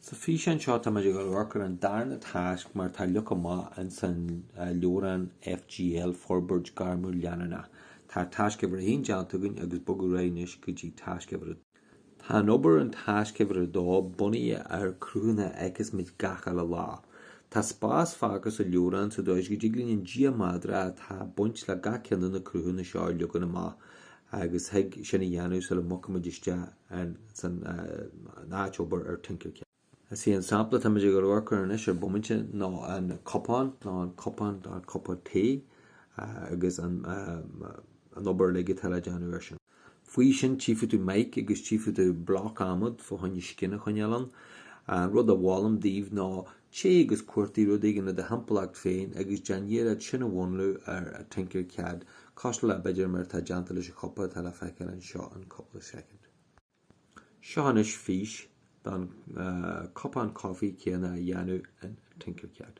Sa físeán seo táimid ag amharc ar an darna tasc mar tá leagtha amach ins an leabhrán FGL, Forbairt Ghairmiúil Leanúnach. Tá tasc uimhir a haon déanta againn agus bogadh ar aghaidh anois go dtí tasc uimhir a dó. Tá an obair in tasc uimhir a dó bunaithe ar cruthanna a fheiceas muid gach uile lá. Tá spás fágtha sa leabhrán sa dóigh is go dtig linn an geometry atá ag baint le gach ceann de na cruthanna seo a leagan amach agus thig sin a dhéanamh sula mbogfaimid isteach ins an áit obair ar Tinkercad. Is é an sampla táimid ag amharc air anois ar bomaite ná an cupán, ná an cupán, ná an cupa tae, agus an obair uilig atá le déanamh air sin. Faoi sin tchífidh tú mic agus tchífidh tú bloc adhmaid fá choinne scine a choinneáil ann. An rud a mholaim daoibh ná Téigh agus cuartaigh rud éigin le do shamhlaíocht féin agus déan iarraidh sin a mhúnlú ar Tinkercad, cosúil le b'fhéidir mar atá déanta leis an chupa atá le feiceáil anseo in cúpla soicind. Seo anois fís don chupán coffee céanna a dhéanamh in Tinkercad.